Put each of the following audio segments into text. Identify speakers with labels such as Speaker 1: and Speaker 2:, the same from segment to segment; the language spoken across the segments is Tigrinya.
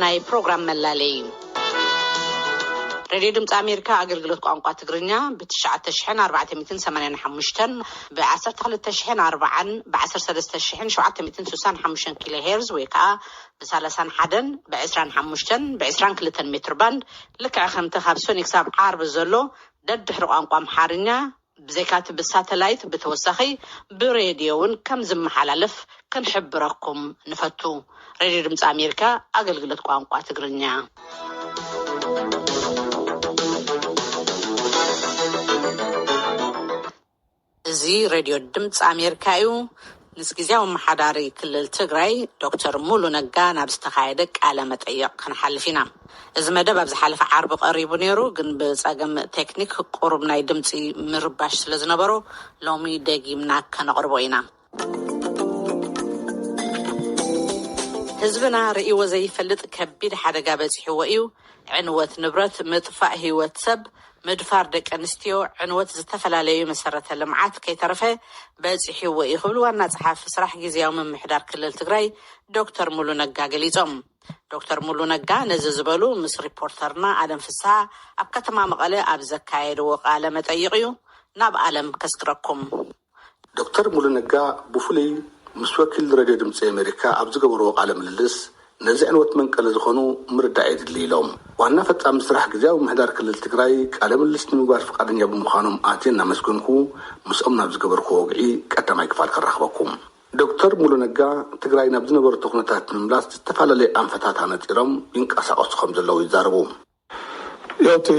Speaker 1: ናይ ፕሮግራም መላለዪ ሬድዮ ድምፂ ኣሜሪካ ኣገልግሎት ቋንቋ ትግርኛ ብ ትሽዓተ ሽሕን ኣርባዕተ ሚእትን ሰማንያን ሓሙሽተን ብ ዓሰርተ ክልተ ሽሕን ኣርባዓን ብ ዓሰርተ ሰለስተ ሽሕን ሸውዓተ ሚእትን ስሳን ሓሙሽተን ኪሎ ሄርዝ ወይ ከዓ ብ ሰላሳን ሓደን ብ ዕስራን ሓሙሽተን ብ ዕስራን ክልተን ሜትር ባንድ ልክዕ ከምቲ ካብ ሰኒ ክሳብ ዓርቢ ዘሎ ደድሕሪ ቋንቋ ኣምሓርኛ ብዘይካቲ ብሳተላይት ብተወሳኺ ብሬድዮ'ውን ከምዝመሓላለፍ ክንሕብረኩም ንፈቱ። ሬድዮ ድምጺ ኣሜሪካ ኣገልግሎት ቋንቋ ትግርኛ። እዚ ሬድዮ ድምጺ ኣሜሪካ እዩ። ምስ ግዝያዊ ኣመሓዳሪ ክልል ትግራይ ዶክተር ሙሉ ነጋ ናብ ዝተኻየደ ቃለ መጠይቕ ክንሓልፍ ኢና። እዚ መደብ ኣብ ዝሓለፈ ዓርቢ ቀሪቡ ነይሩ ግን ብፀገም ቴክኒክ ቁሩብ ናይ ድምፂ ምርባሽ ስለ ዝነበሮ ሎሚ ደጊምና ከነቕርቦ ኢና። ህዝብና ርእይዎ ዘይፈልጥ ከቢድ ሓደጋ በፂሕዎ እዩ። ዕንወት ንብረት፣ ምጥፋእ ህይወት ሰብ፣ ምድፋር ደቂ ኣንስትዮ፣ ዕንወት ዝተፈላለዩ መሰረተ ልምዓት ከይተረፈ በፂሑዎ ኢዩ ክብሉ ዋና ፀሓፊ ስራሕ ጊዚያዊ ምምሕዳር ክልል ትግራይ ዶክተር ሙሉ ነጋ ገሊፆም። ዶክተር ሙሉ ነጋ ነዚ ዝበሉ ምስ ሪፖርተርና ኣለም ፍስሃ ኣብ ከተማ መቐለ ኣብ ዘካየድዎ ቃለ መጠይቕ ኢዩ። ናብ ኣለም ከስግረኩም። ዶክተር
Speaker 2: ሙሉ ነጋ ብፍሉይ ምስ ወኪል ረድዮ ድምጺ ኣሜሪካ ኣብ ዝገበርዎ ቃለ ምልልስ ነዚ ዕንወት መንቀሊ ዝኾኑ ምርዳእ የድሊ ኢሎም። ዋና ፈፃሚ ስራሕ ግዝያዊ ምምሕዳር ክልል ትግራይ ቃለ ምልልስ ንምግባር ፍቓደኛ ብምዃኖም ኣትየ እናመስገንኩ ምስኦም ናብ ዝገበርክዎ ወግዒ ቀዳማይ ክፋል ከራኽበኩም። ዶክተር ሙሉ ነጋ ትግራይ ናብ ዝነበረቶ ኩነታት ንምምላስ ዝተፈላለዩ ኣንፈታት ኣነፂሮም ይንቀሳቐሱ ከምዘለዉ ይዛረቡ። ያው እቲ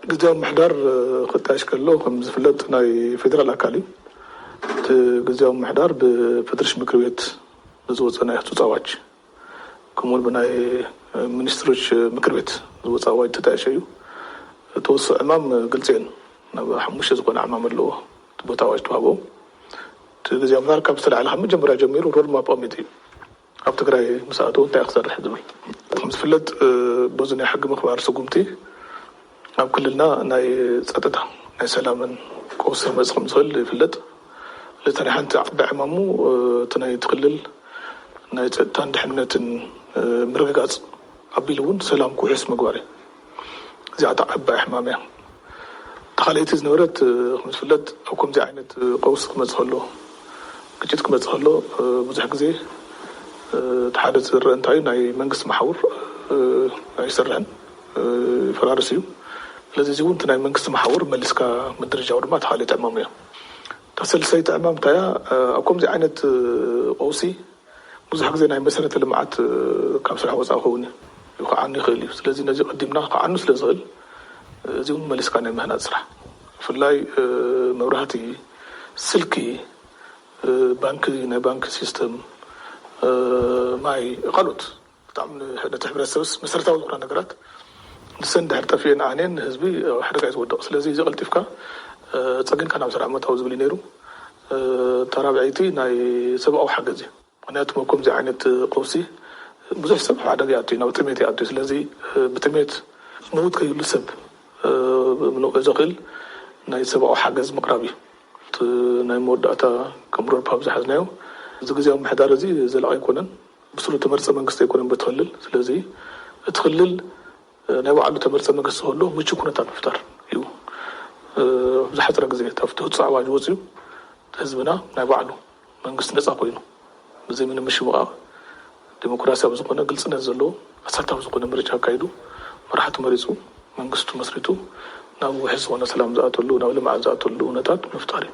Speaker 3: ግዝያዊ ምምሕዳር ክጣየሽ ከሎ ከም ዝፍለጥ ናይ ፌዴራል ኣካል እዩ። እቲ ግዝያዊ ምምሕዳር ብፌዴሬሽን ምክር ቤት ብዝወፀ ናይ ህፁፅ ኣዋጅ ከምኡ እውን ብናይ ሚኒስትሮች ምክር ቤት ዝወፀ ኣዋጅ ተጣየሸ እዩ። ተወሰ ዕማም ግልፂ እየን ናብ ሓሙሽተ ዝኾነ ዕማም ኣለዎ እቲ ቦታ ኣዋጅ ተዋህቦም እቲ ግዝያዊ ምምሕዳር ካብ ዝተላዕለ ካብ መጀመርያ ጀሚሩ ሮድማፕ ኣቐሚጡ እዩ። ኣብ ትግራይ ምስ ኣተዉ እንታይ እዩ ክሰርሕ ዝብል? ከም ዝፍለጥ በዚ ናይ ሕጊ ምኽባር ስጉምቲ ኣብ ክልልና ናይ ፀጥታ ናይ ሰላምን ቀውሲ ክመፅእ ከም ዝኽእል ይፍለጥ። ስለዚ እታ ናይ ሓንቲ ዓባይ ዕማሙ እቲ ናይቲ ክልል ናይ ፀጥታን ድሕንነትን ምርግጋፅ ኣቢሉ እውን ሰላም ክውሕስ ምግባር እዩ። እዚኣታ ዓባይ ሕማም እያ እታ ካልኣይቲ ዝነበረት ከምዝፍለጥ ኣብ ከምዚ ዓይነት ቀውሲ ክመጽእ ከሎ ግጭት ክመጽእ ከሎ ብዙሕ ግዜ እቲ ሓደ ዝርእ እንታይ እዩ ናይ መንግስቲ መሓውር ኣይሰርሕን ይፈራርስ እዩ ስለዚ እዚ እውን እቲ ናይ መንግስቲ መሓውር መሊስካ ምድርጃው ድማ እቲ ካልኣይቲ ዕማም እያ እታ ሰልሰይቲ ዕማም እንታይ እያ ኣብ ከምዚ ዓይነት ቀውሲ ብዙሕ ግዜ ናይ መሰረተ ልምዓት ካብ ስራሕ ወፃኢ ክኸውን እዩ፣ ክዓኑ ይኽእል እዩ። ስለዚ ነዚ ቀዲምና ክዓኑ ስለ ዝኽእል እዚ እውን መሊስካ ናይ ምህናፅ ስራሕ ብፍላይ መብራህቲ፣ ስልኪ፣ ባንኪ፣ ናይ ባንኪ ሲስተም፣ ማይ ካልኦት ብጣዕሚ ንሕነቲ ሕብረተሰብስ መሰረታዊ ዝኾና ነገራት ንሰን እንድሕር ጠፊኤን ዓንየን ንህዝቢ ኣብ ሓደጋ እዩ ዝወድቕ። ስለዚ እዚ ቀልጢፍካ ጸጊንካ ናብ ስራሕ ምእታው ዝብል እዩ ነይሩ። እታ ራብዐይቲ ናይ ሰብኣዊ ሓገዝ እዩ። ምኽንያቱ ኣብ ከምዚ ዓይነት ቀውሲ ብዙሕ ሰብ ኣብ ሓደጋ ይኣቱ እዩ፣ ናብ ጥሜት ይኣቱ እዩ። ስለዚ ብጥሜት ዝመውት ከይህሉ ሰብ ምንቕዑ ዘኽእል ናይ ሰብኣዊ ሓገዝ ምቕራብ እዩ። እቲ ናይ መወዳእታ ከም ሮድማፕ ዝሓዝናዮ እዚ ግዝያዊ ምምሕዳር እዚ ዘላቒ ኣይኮነን። ብሱሩ ተመርጸ መንግስቲ ኣይኮነን በቲ ክልል ስለዚ እቲ ክልል ናይ ባዕሉ ተመርጸ መግስቲ ክህልዎ ምቹው ኩነታት ምፍጣር እዩ ኣብ ዝሓጸረ ግዜ እቲ ኣብቲ ህጹጽ ኣዋጅ ወጺኡ ህዝብና ናይ ባዕሉ መንግስቲ ነጻ ኮይኑ ብዘይ ምንም ምሽምቓቕ ዲሞክራሲያዊ ዝኾነ ግልጽነት ዘለዎ ኣሳታፊ ዝኾነ ምርጫ ኣካይዱ መራሕቱ መሪጹ መንግስቱ መስሪቱ ናብ ውሕስ ዝኾነ ሰላም ዝኣተሉ ናብ ልምዓት ዝኣተሉ እውነታት ምፍጣር እዩ።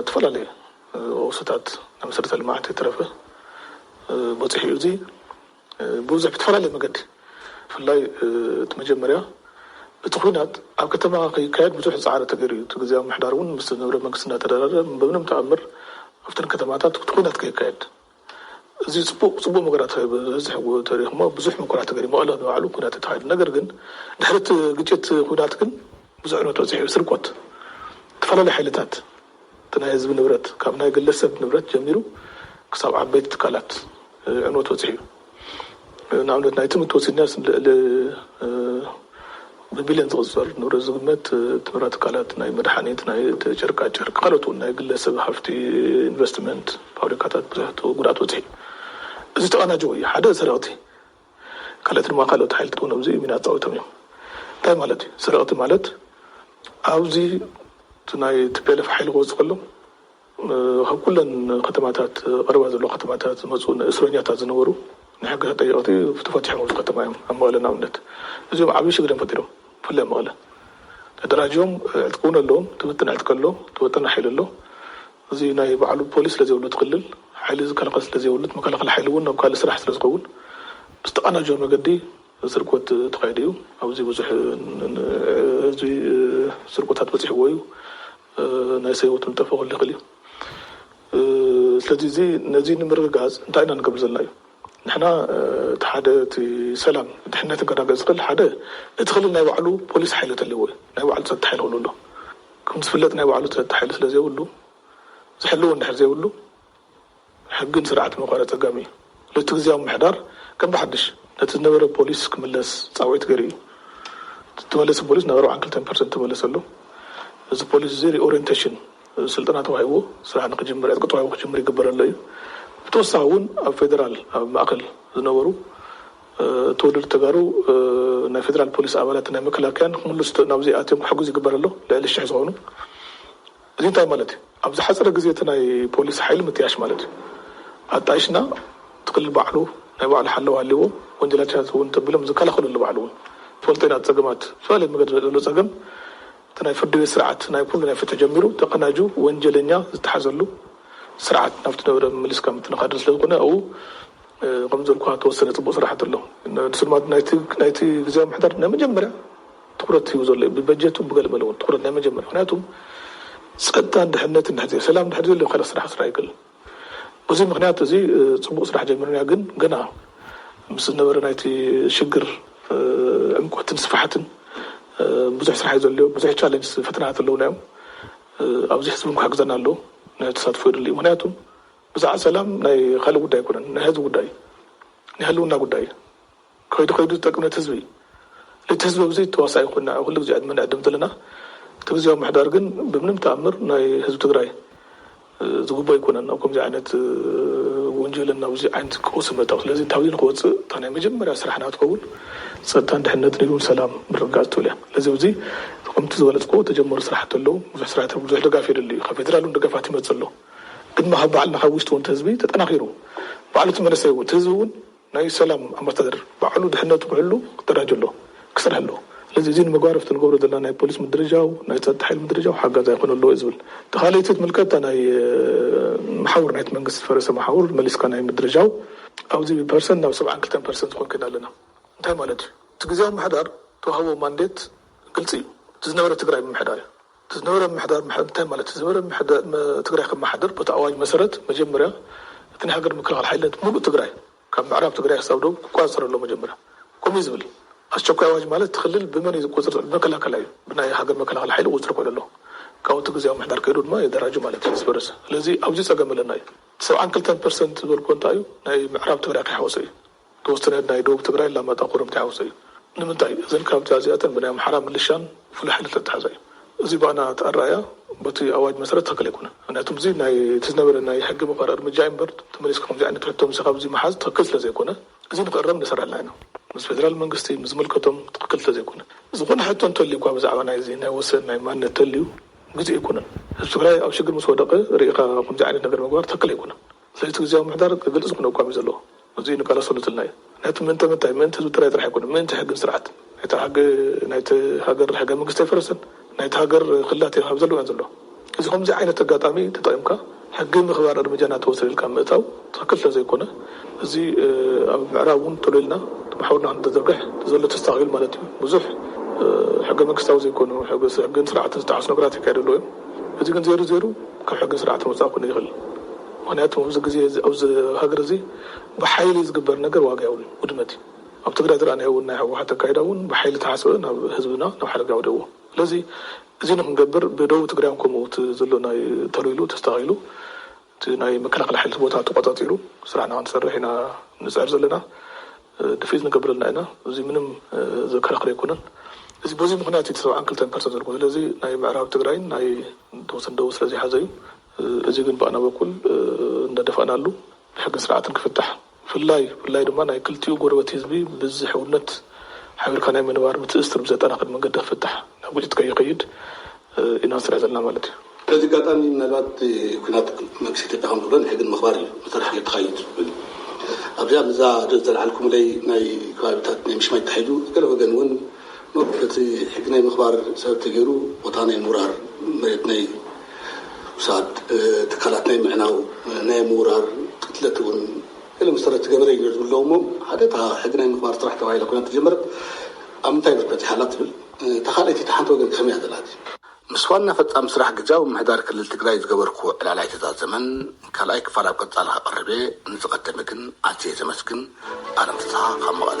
Speaker 3: እተፈላለዩ ኦፍስታት ናይ መሰረተ ልምዓት ከይተረፈ በፂሑ እዩ። እዚ ብብዙሕ ብተፈላለየ መገዲ ብፍላይ እቲ መጀመርያ እቲ ኹናት ኣብ ከተማ ከይካየድ ብዙሕ ፃዕሪ ተገይሩ እዩ። እቲ ግዝያዊ ምምሕዳር እውን ምስ ዝነበረ መንግስቲ እናተደራደረ ብምንም ተኣምር ኣብተን ከተማታት እቲ ኹናት ከይካየድ እዚ ጽቡቅ ጽቡቅ መገራት ብዝሕ ተሪክሞ ብዙሕ ምኩራት ተገሪሞ ኣሎ ንባዕሉ ኩናት ተካይዱ ነገር ግን ድሕሪ እቲ ግጭት ኩናት ግን ብዙሕ ዕንወት በጺሑ ስርቆት ተፈላለዩ ሓይልታት እቲ ናይ ህዝቢ ንብረት ካብ ናይ ግለሰብ ንብረት ጀሚሩ ክሳብ ዓበይቲ ትካላት ዕንወት በጺሑ እዩ። ንኣብነት ናይቲ ምትወሲድናስ ልዕሊ ብቢልዮን ዝቕጸር ንብረት ዝግመት ትምራት ትካላት ናይ መድሓኒት ናይ ጨርቃ ጨርቂ ካልኦት እውን ናይ ግለ ሰብ ሃፍቲ ኢንቨስትመንት ፋብሪካታት ብዙሕት ጉድኣት በጺሑ እዩ እዚ ዝተቐናጀወ እዩ ሓደ ሰረቕቲ ካልኦት ድማ ካልኦት ሓይልታት እውን ኣብዚ ሚና ኣጻዊቶም እዮም እንታይ ማለት እዩ ሰረቕቲ ማለት ኣብዚ ናይ ትፔለፍ ሓይሊ ክወጽእ ከሎ ካብ ኩለን ከተማታት ቀረባ ዘለዋ ከተማታት ዝመፁ እስረኛታት ዝነበሩ ናይ ሕጊ ተጠየቅቲ ተፈቲሖም ኣብዚ ከተማ እዮም ኣብ መቐለ ንኣብነት እዚኦም ዓብይ ሽግር እዮም ፈጢሮም ብፍላይ ኣብ መቐለ ተደራጅዮም ዕጥቂ እውን ኣለዎም ትብትን ዕጥቂ ኣሎ ትበተና ሓይሊ ኣሎ እዚ ናይ ባዕሉ ፖሊስ ስለዘይብሉ እቲ ክልል ሓይሊ ዝከላኸል ስለዘይብሉ እቲ መከላኸሊ ሓይሊ እውን ናብ ካልእ ስራሕ ስለዝኸውን ብዝተቀናጀወ መገዲ ስርቆት ተኻይዱ እዩ ኣብዚ ብዙሕ ህዝቢ ስርቆታት በፂሕዎ እዩ ናይ ሰብ ህይወት ምጥፍእ ክህሉ ይኽእል እዩ። ስለዚ እዚ ነዚ ንምርግጋፅ እንታይ ኢና ንገብር ዘለና እዩ። ንሕና እቲ ሓደ እቲ ሰላም ድሕነት ክረጋገፅ ዝኽእል ሓደ እቲ ክልል ናይ ባዕሉ ፖሊስ ሓይሊ ተለዎ እዩ። ናይ ባዕሉ ፀጥታ ሓይሊ ክህልዎ ኣለዎ። ከምዝፍለጥ ናይ ባዕሉ ፀጥታ ሓይሊ ስለዘይብሉ ዝሕልዎ እንድሕር ዘይብሉ ሕግን ስርዓትን ምኽባር ኣጸጋሚ እዩ። ለቲ ግዝያዊ ምምሕዳር ከም ብሓድሽ ነቲ ዝነበረ ፖሊስ ክምለስ ጻውዒት ገይሩ እዩ። ዝተመለሰ ፖሊስ ናብ ኣርብዓን ክልተን ፐርሰንት ተመለሰ ኣሎ። እዚ ፖሊስ እዚ ሪኦሬንተሽን ስልጠና ተዋሂብዎ ስራሕ ንክጅምር ዕጥቂ ተዋሂቡ ክጅምር ይግበር ኣሎ እዩ። ብተወሳኺ እውን ኣብ ፌደራል ኣብ ማእከል ዝነበሩ ተወለድቲ ተጋሩ ናይ ፌደራል ፖሊስ ኣባላትን ናይ መከላከያን ንክምልሱ ናብዚ ኣትዮም ክሕግዙ ይግበር ኣሎ። ልዕሊ ሽሕ ዝኾኑ። እዚ እንታይ ማለት እዩ? ኣብ ዝሓጸረ ግዜ እቲ ናይ ፖሊስ ሓይሊ ምጥያሽ ማለት እዩ። ኣጣይሽና እቲ ክልል ባዕሉ ናይ ባዕሉ ሓለዋ ሃልይዎ ወንጀላቻት እውን ተቢሎም ዝከላኸሉሉ ባዕሉ እውን ዝፈልጦ ኢና እቲ ጸገማት ብዝተፈላለየ መገዲ ዝመጽእ ዘሎ ጸገም እቲ ናይ ፍርዲ ቤት ስርዓት ናይ ኩሉ ናይ ፍትሒ ጀሚሩ ተቀናጁ ወንጀለኛ ዝተሓዘሉ ስርዓት ናብቲ ዝነበረ ምምልስካ ምትንኻድን ስለ ዝኾነ ኣብኡ ከምዚ እልኩኻ ዝተወሰነ ጽቡቅ ስራሕቲ ኣሎ ንሱ ድማ ናይቲ ናይቲ ግዝያዊ ምምሕዳር ናይ መጀመርያ ትኩረት ሂቡ ዘሎ እዩ ብበጀቱ ብገለ መለ እውን ትኩረት ናይ መጀመርያ ምክንያቱ ፀጥታን ድሕነትን እንድሕር ዘይ ሰላም እንድሕር ዘየሎ ካልእ ስራሕ ክስራሕ ኣይክእልን በዙይ ምክንያት እዙይ ፅቡቅ ስራሕ ጀሚርና ግን ገና ምስ ዝነበረ ናይቲ ሽግር ዕምቆትን ስፍሓትን ብዙሕ ስራሕ እዩ ዘድልዮ ብዙሕ ቻለንጅ ፈተናታት ኣለውና እዮም ኣብዚ ህዝቢ እውን ክሕግዘና ኣለዎ ናይ ተሳትፎ የድሊ እዩ ምክንያቱ ብዛዕባ ሰላም ናይ ካልእ ጉዳይ ኣይኮነን ናይ ህዝቢ ጉዳይ እዩ ናይ ህልውና ጉዳይ እዩ ከይዱ ከይዱ ዝጠቅም ነቲ ህዝቢ እዩ። ነቲ ህዝቢ ብዙይ ተዋሳኢ ኮይና እያ ኩሉ ግዜ ዕድመ ንዕድም ዘለና። እቲ ግዝያዊ ምምሕዳር ግን ብምንም ተኣምር ናይ ህዝቢ ትግራይ ዝግብኦ ኣይኮነን ኣብ ከምዚ ዓይነት ወንጀልን ናብ እዙይ ዓይነት ቀውስን ምእታው። ስለዚ ታብዚ ንክወፅእ እታ ናይ መጀመርያ ስራሕና ትኸውን ፀጥታን ድሕንነትን ኢሉ ሰላም ምርግጋፅ ትብል እያ። ስለዚ ኣብዚ ከምቲ ዝገለፅክዎ ዝተጀመሩ ስራሕቲ ኣለው። ብዙሕ ስራሕቲ ብዙሕ ድጋፍ የድሊ እዩ። ካብ ፌደራል እውን ደገፋት ይመፅእ ኣሎ። ግን ካብ ባዕልና ካብ ውሽጢ እውን እቲ ህዝቢ ተጠናኺሩ ባዕሉ እቲ መንእሰይ እውን እቲ ህዝቢ እውን ናይ ሰላም ኣምባሳደር ባዕሉ ድሕነቱ ክሕሉ ክደራጀ ኣለዎ፣ ክሰርሕ ኣለዎ። ስለዚ እዚ ንምግባር ኣብቲ ንገብሮ ዘለና ናይ ፖሊስ ምድርጃው፣ ናይ ጸጥታ ሓይሊ ምድርጃው ሓጋዛይ ክኾን ኣለዎ እየ ዝብል። እታ ካልኣይቲ ትምልከት እታ ናይ መሓውር ናይቲ መንግስቲ ዝፈረሰ መሓውር መሊስካ ናይ ምድርጃው፣ ኣብዚ ብፐርሰንት ናብ ሰብዓን ክልተን ፐርሰንት ዝኸውን ከይድና ኣለና። እንታይ ማለት እዩ? እቲ ግዝያዊ ምምሕዳር ዝተዋህቦ ማንዴት ግልጺ እዩ፣ እቲ ዝነበረ ትግራይ ምምሕዳር እዩ። እቲ ዝነበረ ምምሕዳር ምሕደር እንታይ ማለት እዩ? ዝነበረ ምምሕዳር ንትግራይ ከመሓድር በቲ ኣዋጅ መሰረት መጀመርያ እቲ ናይ ሃገር ምክልኻል ሓይልነት ሙሉእ ትግራይ ካብ ምዕራብ ትግራይ ክሳብ ደቡብ ክቆፃፀር ኣለዎ መጀመርያ ከምኡ እዩ ዝብል ኣስቸኳይ ኣዋጅ ማለት እቲ ክልል ብመን እዩ ዝቆፅር ዘሎ ብመከላከላ እዩ ብናይ ሃገር መከላኸሊ ሓይሊ ክቁፅር ኮይኑ ኣለዎ ካብኡ እቲ ግዝያዊ ምምሕዳር ከይዱ ድማ የደራጁ ማለት እዩ ምስ ፈረሰ ስለዚ ኣብዚ ፀገም ኣለና እዩ እቲ ሰብዓን ክልተን ፐርሰንት ዝበልክዎ እንታይ እዩ ናይ ምዕራብ ትግራይ ከይሓወሰ እዩ ተወስነ ናይ ደቡብ ትግራይ ኣላማጣ ኮረምቲ ሓውሲ እዩ ንምንታይ እዘን ክራምቲ ኣዚኣተን ብናይ ኣምሓራ ምልሻን ፍሉይ ሓይሊ ተታሓዛ እዩ እዚ ባኣና እቲ ኣራኣእያ በቲ ኣዋጅ መሰረት ትክክል ኣይኮነን ምክንያቱም እዚ ናይ እቲ ዝነበረ ናይ ሕጊ መክበሪ እርምጃ እዩ እምበር ተመሊስካ ከምዚ ዓይነት ሕቶ ምሰ ካብዚ ምሓዝ ትክክል ስለ ዘይኮነ እዚ ንክእረም ንሰራልና ኢና ምስ ፌደራል መንግስቲ ምስ ዝምልከቶም ትክክል ስለ ዘይኮነ ዝኮነ ሕቶ እንተልዩ እኳ ብዛዕባ ናይዚ ናይ ወሰን ናይ ማንነት ተልዩ ግዜኡ ኣይኮነን ህዝቢ ትግራይ ኣብ ሽግር ምስ ወደቀ ሪኢካ ከምዚ ዓይነት ነገር ምግባር ትክክል ኣይኮነን ለይቲ ግዝያዊ ምምሕዳር ክገልጽ ዝኹነ ኣቋም እዩ ዘለዎ። እዙይ ንቃለሰሉ ዝልና እዩ። ነቲ ምእንተ ምንታይ፣ ምእንቲ ህዝቢ ትግራይ ጥራሕ ኣይኮነን፣ ምእንቲ ሕግን ስርዓትን። ናይቲ ሕጊ ናይቲ ሃገር ሕገ መንግስቲ ኣይፈረሰን፣ ናይቲ ሃገር ክልላት እየን ኣብዘለዎ እየን ዘለዋ። እዚ ከምዙይ ዓይነት ኣጋጣሚ ተጠቒምካ ሕጊ ምኽባር እርምጃ እናተወሰደ ኢልካ ምእታው ትኽክል ስለዘይኮነ እዚ ኣብ ምዕራብ እውን ቶሎ ኢልና ማሕውርና ክንተዘርግሕ ተዘሎ ተስተኻኺሉ ማለት እዩ። ብዙሕ ሕገ መንግስታዊ ዘይኮኑ፣ ሕግን ስርዓትን ዝተሓሱ ነገራት ይካየዱ ኣለዉ እዮም። እዚ ግን ዜሩ ዜሩ ካብ ሕግን ስርዓትን ወጻኢ ክኮን ኣይክእልን ምክንያቱ ኣብዚ ግዜ እዚ ኣብዚ ሃገር እዚ ብሓይሊ ዝግበር ነገር ዋጋ የብሉን ውድመት እዩ ኣብ ትግራይ ዝረኣናዮ ውን ናይ ህወሓት ኣካይዳ ውን ብሓይሊ ዝተሓስበ ናብ ህዝብና ናብ ሓደጋ የውድቅዎ ስለዚ እዚ ንክንገብር ብደቡብ ትግራይ ውን ከምኡ እቲ ዘሎ ናይ ተልዊሉ ተስተካኪሉ እቲ ናይ መከላኸሊ ሓይሊ እቲ ቦታ ተቆፃፂሩ ስራሕና ክንሰርሕ ኢና ንፅዕር ዘለና። ድፍኢት ንገብር ኣልና ኢና። እዙይ ምንም ዘከራኽር ኣይኮነን። እዚ በዙይ ምኽንያት እዩ እቲ ሰብዓን ክልተን ፐርሰንት ዝበልኩ። ስለዚ ናይ ምዕራብ ትግራይን ናይ ተወሰነ ደቡብ ስለዘይሓዘ እዩ። እዙይ ግን ብኣና በኩል እንዳደፋእናሉ ብሕግን ስርዓትን ክፍታሕ ብፍላይ ብፍላይ ድማ ናይ ክልቲኡ ጎረበት ህዝቢ ብዝ ሕውነት ሓቢርካ ናይ ምንባር ምትእስስር ብዘጠናክር መንገዲ ክፍታሕ ናብ ግጭት ከይኸይድ ኢና ንሰርሕ ዘለና ማለት እዩ። በዚ ኣጋጣሚ
Speaker 2: ምናልባት ኩናት መንግስቲ ኢትዮጵያ ከም ዝብሎ ንሕጊ ንምኽባር እዩ መሰረት ሓይሊ ተኻይድ ዝብል ኣብዚኣ ምስዛ ዘልዓልኩምለይ ናይ ከባቢታት ናይ ምሽማይ ተታሒዙ ገለ ወገን እውን እብ እቲ ሕጊ ናይ ምኽባር ሰበብ ተገይሩ ቦታ ናይ ምውራር፣ መሬት ናይ ምውሳድ፣ ትካላት ናይ ምዕናው፣ ናይ ምውራር፣ ቅትለት እውን ገለ መሰረት ዝገበረ እዩ ነይሩ ዝብል ኣለዉ እሞ ሓደ እታ ሕጊ ናይ ምኽባር ስራሕ ተባሂላ ኲናት ተጀመረት ኣብ ምንታይ ብርኪ በፂሓ ኣላ ትብል? እታ ካልኣይቲ እታ ሓንቲ ወገን ከ ከመይ እያ ዘላ ሕዚ? ምስ ዋና ፈፃሚ ስራሕ ግዝያዊ ምምሕዳር ክልል ትግራይ ዝገበርክዎ ዕላል ኣይተዛዘመን፣ ካልኣይ ክፋል ኣብ ቀፃሊ ከቕርብ እየ፣ ንዝቐደመ ግን ኣዝየ ዘመስግን። ኣለም ፍስሃ ካብ መቐለ።